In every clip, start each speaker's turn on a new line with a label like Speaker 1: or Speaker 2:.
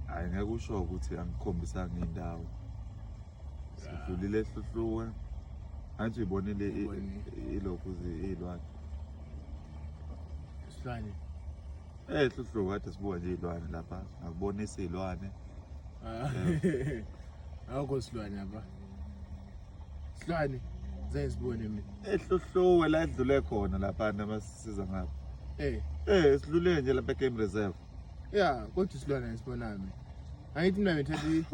Speaker 1: Hayi ngeke usho ukuthi angikhombisanga indawo. Sidlulile ehluhluwe. Angithi ibonile ilokhu izilwane. Isilwane.
Speaker 2: Eh
Speaker 1: hluhluwe kade sibuka nje izilwane lapha. Ngakubonisa izilwane. Ah. Eh.
Speaker 2: Awukho silwane lapha. Silwane zayizibone mina. Ehluhluwe la
Speaker 1: edlule khona lapha namasisiza ngapha. Eh. Eh, silule nje lapha e-game reserve. ya kodwa
Speaker 2: isilwane esibonami angithi mina ngithathi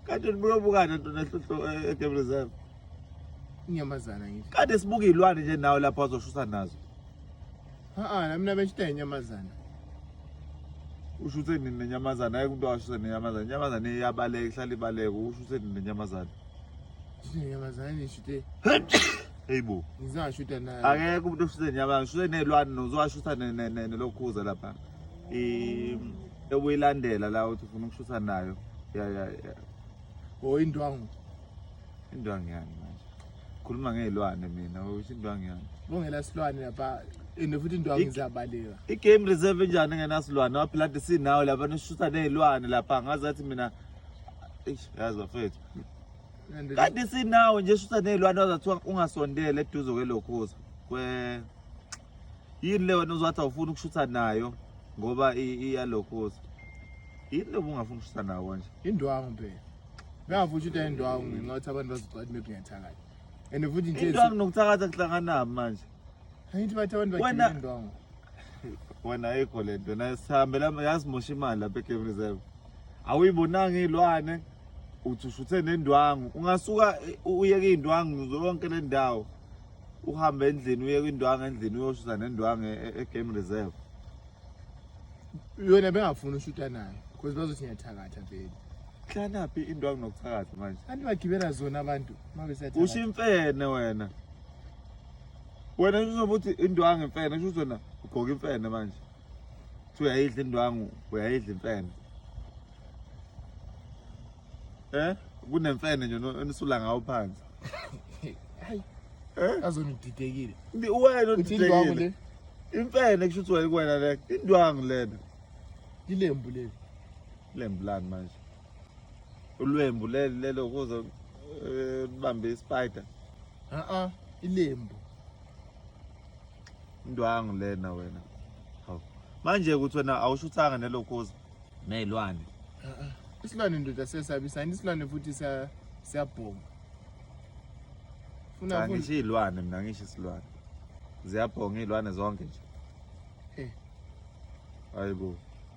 Speaker 2: kade nibuke
Speaker 1: bukana ntona hlohlo eh, e-game reserve
Speaker 2: inyamazana ngithi kade sibuke iy'lwane nje
Speaker 1: nawe lapho azoshusa nazo ha-a
Speaker 2: namina beshita inyamazana usho
Speaker 1: ukuthi nini nenyamazane ayike umuntu awashise nenyamazane inyamazane iyabaleka ihlala ibaleka usho ukuthi nini nenyamazane Hey
Speaker 2: bo. Ngizashutha naye. Akekho umuntu oshuthe inyabanga,
Speaker 1: shuthe nezilwane nozwashutha nelokhuza lapha. Eh ekuyilandela la uthi ufuna ukushutha nayo. Ya ya ya. Oh
Speaker 2: indwangu.
Speaker 1: Indwangu yani manje. Khuluma ngezilwane mina, usho indwangu yani. Bongela silwane lapha
Speaker 2: ende futhi indwangu izabaleka i-game reserve enjani
Speaker 1: engenasilwane waphila nti sinawo lapha nishusa ney'lwane lapha ngazathi mina eish yazi bafethu kade sinawo nje shuthi nezilwane wazathiwa ungasondele eduze kwelokhoza kwe yini le wena uzowathi awufuni ukushutha nayo ngoba iyalokhoza yini le bungafuni ukushutha nawo kanje indwangu phela
Speaker 2: ngavutha ukuthi ayindwangu ngenxa yokuthi abantu bazicwadi mebungathakala and futhi nje indwangu nokuthakatha
Speaker 1: kuhlanganaphi manje Angithi bathi
Speaker 2: abantu bagcina Wena- indwangu. wena
Speaker 1: ayikho le nto na sihambela yasimosha imali lapha e-game reserve awuyibonanga iy'lwane uthi ushuthe nendwangu ungasuka eh, u- uyeke iy'ndwangu zonke le ndawo uhambe endlini uyeke indwangu endlini uyoshutha nendwangu e- e- e-game reserve
Speaker 2: Yona bengafuni ushuta nayo because bazothi ngiyathakatha vele. hlanaphi
Speaker 1: indwangu nokuthakatha manje Kanti bagibela zona
Speaker 2: abantu uma besiyathatha. usho imfene
Speaker 1: wena wena uzobe uthi indwangu imfene kusho ukuthi wena ugqoka imfene manje kuthiwa uyayidla indwangu uyayidla imfene eh kunemfene nje enisula ngawo phansi hayi
Speaker 2: eh azona udidekile wena
Speaker 1: udidekile imfene kusho ukuthi wena le indwangu lena ilembu
Speaker 2: leli ilembu
Speaker 1: lani manje ulwembu leli lelo kuzo eh, libambe ispider a-a
Speaker 2: ilembu
Speaker 1: indwangu lena wena hawu manje ukuthi wena awushuthanga nelokhuza ney'lwane a-a
Speaker 2: isilwane ndoda siyasabisa yini isilwane futhi siya- siyabhonga
Speaker 1: funa cha futhi ngisho iy'lwane mina ngisho isilwane ziyabhonga iy'lwane zonke nje Eh. hayi bo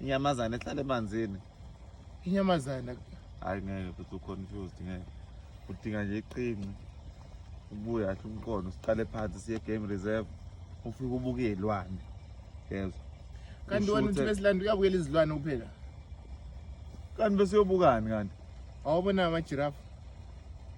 Speaker 1: inyamazane ehlala emanzini inyamazane
Speaker 2: hayi ngeke
Speaker 1: futhi uconfused ngeke udinga nje iqinci ubuye ahle umqondo siqale phansi siye game reserve ufike ubuke iy'lwane yezwa kanti
Speaker 2: wena uthi besilanda uyabukela izilwane kuphela
Speaker 1: kanti besiyobukani kanti awubona amajirafu